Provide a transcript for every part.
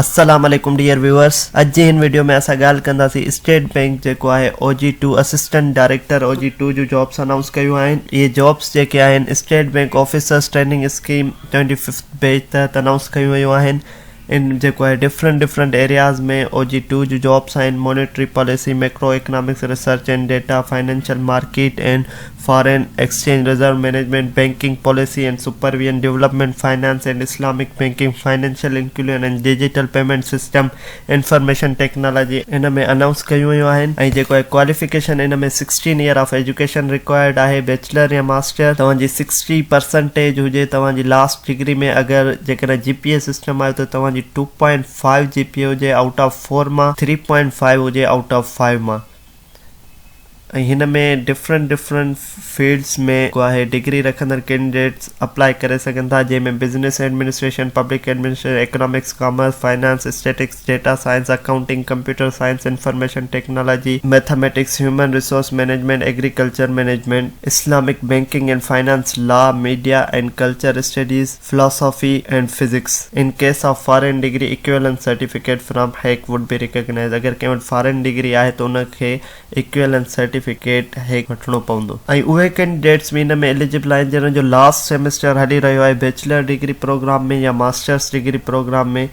السلام عليڪم dear viewers اڄ جي هن ويڊيو ۾ اسان ڳالهه ڪنداسين اسٽيٽ بئنڪ جيڪو آهي O G two assistant director O G two جو جابس انائونس ڪيون آهن اهي جابس جيڪي آهن State Bank officers training scheme twenty fifth batch تحت انائونس ڪيون ويون آهن ان جيڪو آهي different different areas ۾ O G two جون جابس آهن، monetary policy, macroeconomics research and data, financial market and foreign exchange, reserve management, banking policy and supervision, development finance and Islamic banking, financial inclusion and digital payment system, information technology. ان ۾ announce ڪيون ويون آهن ۽ جيڪو آهي qualification ان ۾ sixteen year of education required آهي، bachelor يا master توهان جي سڪسٽي پرسنٽيج هجي توهان جي لاسٽ ڊگري ۾ اگر جيڪڏهن جي پي اي سسٽم آهي ته توهان جي two point five G P A هجي آئوٽ آف فور مان ٿري پوائنٽ فائيو هجي آئوٽ آف فائيو مان ۽ هن ۾ ڊفرنٽ ڊفرنٽ فيلڊس ۾ جيڪو آهي ڊگري رکندڙ ڪينڊيڊيٽس اپلائي ڪري سگهن ٿا جنهن ۾ business administration public administration economics commerce finance statistics data science, accounting, computer science, information technology, mathematics, human resource management, agriculture management, Islamic banking and finance, law, media and culture studies, philosophy and physics. In case of foreign degree equivalence certificate from HEC would be recognized اگر ڪنهن وٽ foreign degree آهي ته ان کي equivalence certificate HEC وٺڻو پوندو ۽ اهي ڪينڊيڊيٽس به ان ۾ اليجبل آهن جنهن جو لاسٽ سيمسٽر هلي رهيو آهي بيچلر ڊگري پروگرام ۾ يا ماسٽرس ڊگري پروگرام ۾.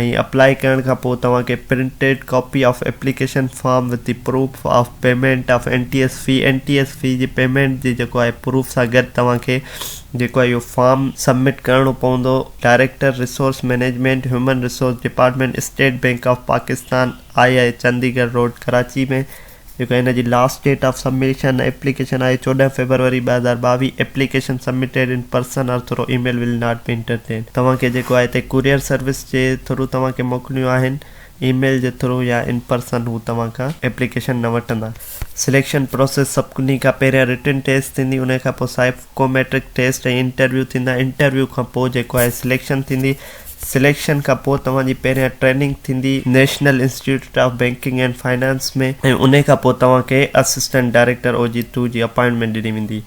۽ اپلائي ڪرڻ کان پوء توهان کي printed copy of application form with the proof of payment of N T S fee N T S fee جي پيمينٽ جي جيڪو آهي پروف سان گڏ توهان کي جيڪو آهي اهو فارم سبمٽ ڪرڻو پوندو director resource management human resource department State Bank of Pakistan I I Chundrigar road Karachi ۾ جيڪا هن جي last date of submission application آهي چوڏهن فيبروري ٻه هزار ٻاويهه application submitted in person or through email will not be entertained توهان کي جيڪو آهي تي ڪوريئر سروس جي ٿرو توهان کي موڪلڻيون آهن اي ميل جي ٿرو يا ان پرسن هو توهان کان ايپليڪيشن نه وٺندا سليڪشن پروسيس سڀني کان پهريان رٽن ٽيسٽ ٿيندي ان کان پوء سائيڪوميٽرڪ ٽيسٽ ۽ انٽرويو ٿيندا انٽرويو کان پوء جيڪو آهي سليڪشن ٿيندي سليڪشن کان پوء توهان جي پهريان ٽريننگ ٿيندي national institute of banking and finance ۾ ۽ انهي کان پوء توهان کي assistant director O G two جي اپائنٽمينٽ ڏني ويندي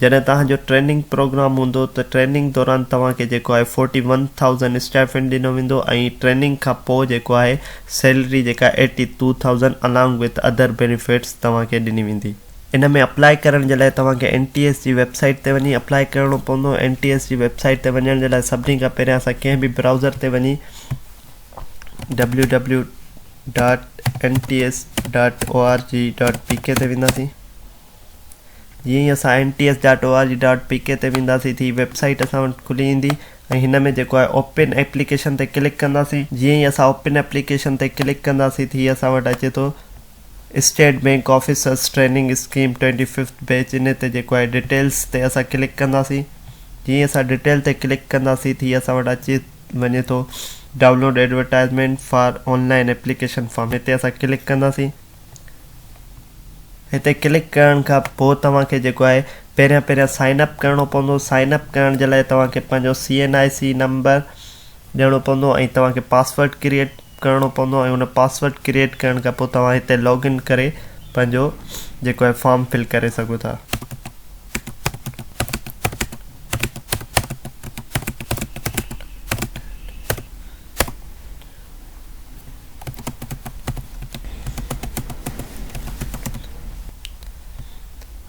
جڏهن توهان جو ٽريننگ پروگرام هوندو ته ٽريننگ دوران توهان کي جيڪو آهي فورٽي ون ٿائوزنڊ اسٽائيفنڊ ڏنو ويندو ۽ ٽريننگ کان پوء جيڪو آهي سيلري جيڪا eighty two thousand along with other benefits توهان کي ڏني ويندي. ان ۾ اپلائي ڪرڻ جي لاء توهان کي اين ٽي ايس جي ويب سائيٽ تي وڃي اپلائي ڪرڻو پوندو اين ٽي ايس جي ويب سائيٽ تي وڃڻ جي لاء سڀني کان پهريان اسان ڪنهن به برائوزر تي وڃي W W dot N T S dot O R G dot P K تي وينداسين جيئن ئي اسان N T S dot O R G dot P K تي وينداسين ٿي ويب سائيٽ اسان وٽ کلي ايندي ۽ هن ۾ جيڪو آهي اوپن ايپليڪيشن تي ڪلڪ ڪنداسين جيئن ئي اسان اوپن ايپليڪيشن تي ڪلڪ ڪنداسين ٿي اسان وٽ اچي ٿو state bank officers training scheme twenty fifth batch انهي تي جيڪو آهي ڊٽيلس تي اسان ڪلڪ ڪنداسين جيئن ئي اسان ڊٽيل تي ڪلڪ ڪنداسين تي هي اسان وٽ اچي وڃي ٿو download advertisement for online application form هتي اسان ڪلڪ ڪنداسين هتي ڪلڪ ڪرڻ کان پوء توهان کي جيڪو آهي پهريان پهريان سائن اپ ڪرڻو پوندو سائن اپ ڪرڻ جي لاء توهان کي پنهنجو C N I C number ڏيڻو پوندو ۽ توهان کي پاسورڊ ڪريئٽ ڪرڻو پوندو ۽ ان پاسورڊ ڪريئيٽ ڪرڻ کان پوء توهان هتي لاگ ان ڪري پنهنجو جيڪو آهي فارم فل ڪري سگهو ٿا.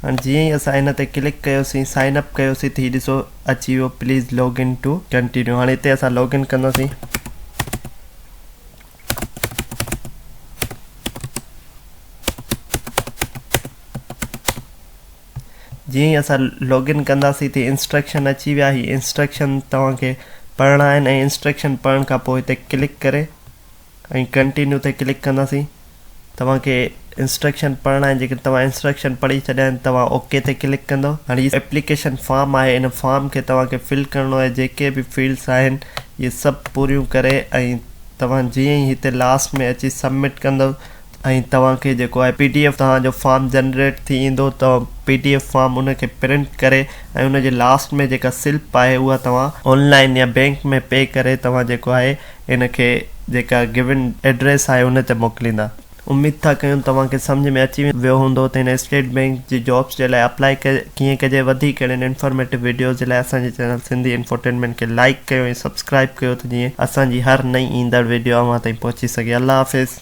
هاڻي جيئن ئي اسان ان تي ڪلڪ ڪيوسين سائن اپ ڪيوسين ته هي ڏسو اچي ويو please log in to continue هاڻي هتي اسان لاگ ان ڪنداسين جيئن ئي اسان لاگ ان ڪنداسين تي انسٽرڪشن اچي ويا هي انسٽرڪشن توهان کي پڙهڻا آهن ۽ انسٽرڪشن پڙهڻ کان پوء هتي ڪلڪ ڪري ۽ Continue تي ڪلڪ ڪنداسين توهان کي انسٽرڪشن پڙهڻا آهن جيڪڏهن توهان انسٽرڪشن پڙهي ڇڏيا آهن توهان اوڪي okay تي ڪلڪ ڪندو هاڻي هي ايپليڪيشن فارم آهي ان فارم کي توهان کي فل ڪرڻو آهي جيڪي به فيلڊس آهن اهي سڀ پوريون ڪري ۽ توهان جيئن ئي هتي لاس ۾ اچي سبمٽ ڪندو ۽ توهان کي جيڪو آهي پي ڊي ايف توهان جو فارم جنريٽ ٿي ايندو توهان پي ڊي ايف فارم ان کي پرنٽ ڪري ۽ ان جي لاسٽ ۾ جيڪا سلپ آهي اها توهان آن لائين يا بينڪ ۾ پي ڪري توهان جيڪو آهي ان کي جيڪا گون ايڊريس آهي ان تي موڪليندا. اميد ٿا ڪيون توهان کي سمجهه ۾ اچي ويو هوندو ته هن اسٽيٽ بينڪ جي جابس جي لاء اپلائي ڪيئن ڪجي وڌيڪ اهڙين انفارميٽو ويڊيوز جي لاء اسان جي چينل سنڌي انفوٽينمينٽ کي لائيڪ ڪيو ۽ سبسڪرائيب ڪيو ته جيئن اسان جي هر نئين ايندڙ ويڊيو اوهان تائين پهچي سگهي الله حافظ.